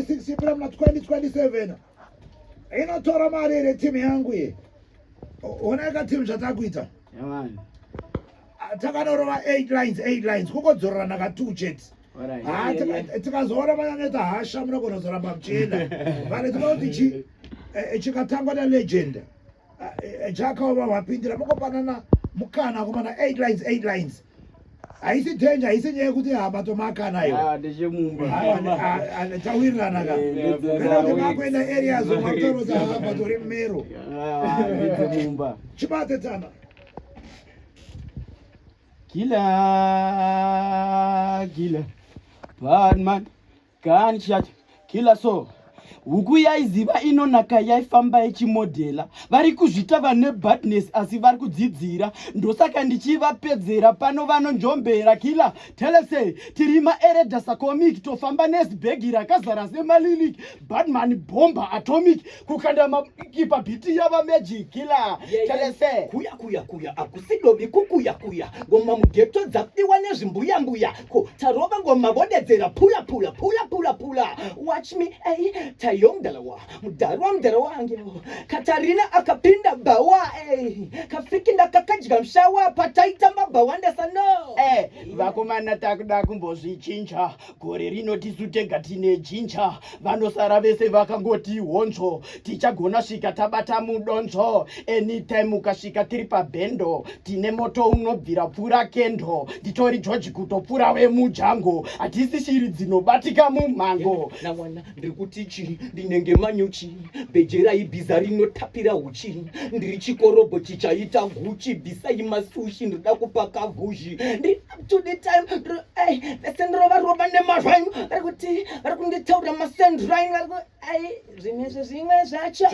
6 April muna 2027 inotora mari here timu yangu ye oneka timu zvatakuita takanorova 8 lines 8 lines kungodzororana ka two chete tikazoona vanyaneta hasha munogona kuzoramba muchienda vale tinoda kuti chikatangwa nalegenda eh, jaka uva vapindira mukopanana mukana kumana 8 lines 8 lines haisi danger haisi nyaya yekuti hama tomakana iyo ah, tawirirana ka eh, kana kuti makuenda areas makutoro dzahama tori mumero ah, chibate tana gila gila badman Gani chat killer so huku yaiziva inonaka yaifamba yechimodhela vari kuzvita vane badness asi vari kudzidzira ndosaka ndichivapedzera pano vanonjombera kila telese tiri maeredasa comic tofamba nesbhegi rakazara semalilik badman bomba atomic kukanda makipa biti yava magic killer telese kuya kuya kuya akusidobi kukuya kuya ngoma mugeto dzafiwa nezvimbuya mbuya ko tarova ngoma vodedzera pula pula pula pula pula watch me ei tayo mdalawa mdarwa mdalawa angeo katarina akapinda bawa ei kafiki ndakakadya mshawa pataitamba bawandesa no eh vakomana takuda kumbozvichinja gore rino tisu tega tine jinja vanosara vese vakangoti honzvo tichagona svika tabata mudonzvo anytime ukasvika tiri pabhendo tine moto unobvira pfura kendo nditori george kutopfura wemujango hatisi shiri dzinobatika mumhango nawana ndiri kuti chii ndinenge manyuchi bhejerai bhiza rinotapira uchi ndiri chikorobho chichaita guchi bhisai masushi ndoda kupaka guzhi to the time ai vese ndirova rova nemazvanyu vari kuti vari kunditaura masendrine vari ku ai zvimwe zvimwe zvacho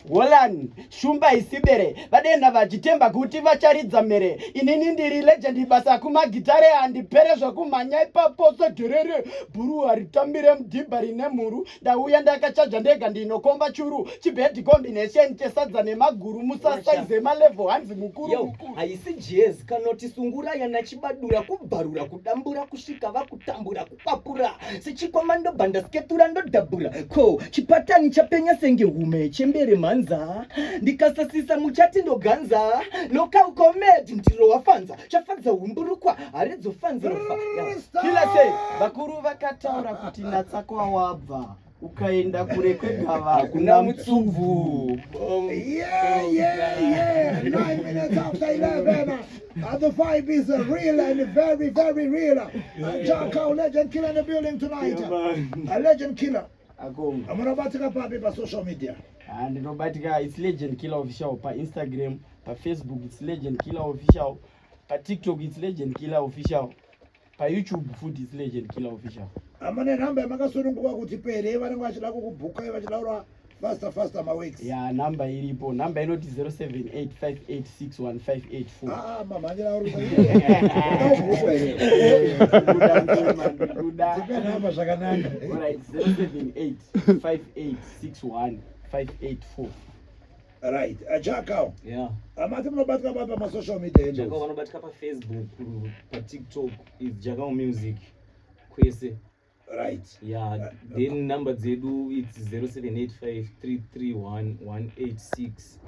holland shumba isibere vadenda vachitemba kuti vacharidza mhere inini ndiri legendi basa kumagitare handipere zvekumhanya ipapo sedherere bhuru haritambire mudhibha rine mhuru ndauya ndakachaja ndega ndinokomba churu chibed combination chesadza nemaguru musasaize malevel hanzi mukuru haisi jez kanoti sungura yana chibadura kubvarura kudambura kusvika vakutambura kukwapura sechikwama ndobva ndasketura ndodhabhura ko chipatani chapenya senge hume chembere mhanza ndikasasisa muchati ndoganza local comed ndiro wafanza chafadza humburukwa haridzofanzirofa kilase vakuru vakataura kuti natsakwa wabva ukaenda kure kwegava hakuna mutsumbu And the vibe is uh, real and very, very real. And John Cow, legend killer in the building tonight. Yeah, a legend killer. Akomba. Hamuna batika papi pa social media? Ah, ndinobatika it's Legend Killer Official pa Instagram, pa Facebook it's Legend Killer Official, pa TikTok it's Legend Killer Official, pa YouTube futi it's Legend Killer Official. Amane number makasununguka kuti pere vanenge vachida kukubhuka vachida kura faster faster ma weeks. Yeah, number iripo. Number inoti 0785861588. Ah, mamhanyira auri kuiaapa zvakanaka 078 5861 584 right ajakao uh, yeah. amati munobatika pa pamasocial media jakao vanobatika pafacebook patiktok is jakao music kwese right yeah then number dzedu it's 0785331186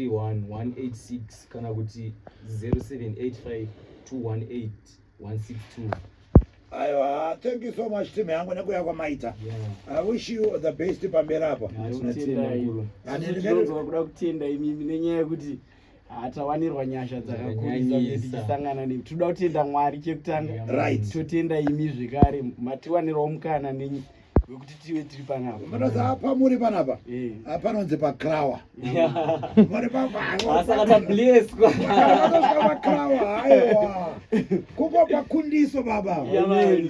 0785331186 kana kuti 0785218162 aiwa thank you so much team yangu nekuya kwamaita i wish you the best pamberi apa kuda kutenda imimi nenyaya yekuti hatawanirwa nyasha dzakakurisangana ne tinoda kutenda mwari chekutanga right totenda imi zvekare matiwanirawo mukana nenyi wekuti tive tiri panapa matoza pamuri panapa eh. ah, panonzi pacrawa muri papaasakatableskwaakrawa aiwa kuko pakundiso baba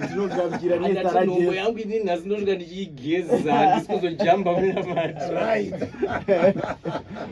tinogaukira nesarango yangu ini nhasi ndosvika ndichiigeza ndisikuzochamba muna mati right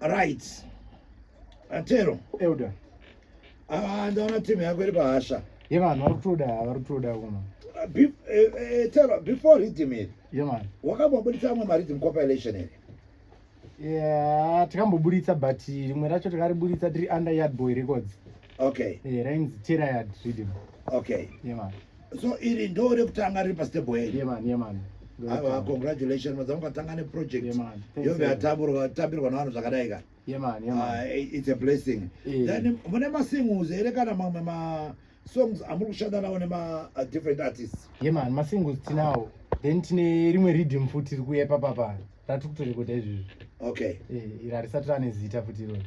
right atero elder ava ndaona team yako iri pahasha ye vanhu vari kutoda vari kutoda kuno eh, eh, tero before rhythm iri ye mani wakambobuditsa amwe marhythm compilation iri yeah tikamboburitsa but rimwe racho takariburitsa tiri under yard boy records okay yeah, rainzi terayard rhythm okay ye yeah, mani so iri ndo rekutanga riri pastable here yeah, man, yeah, man. Ava, ah, congratulations madzamu katanga neproject yeah, yove yatambirwa navanhu zvakadai ka yeah, man, yeah, man. Uh, it's a blessing yeah. then mune masingles here kana mamwe ma songs amuri kushanda nawo nema uh, different artists yeah, man masingles tinawo then tine rimwe reading futi rikuya papapa ratikutorekota izvizvi okay yeah, iri harisati rane zita futi irori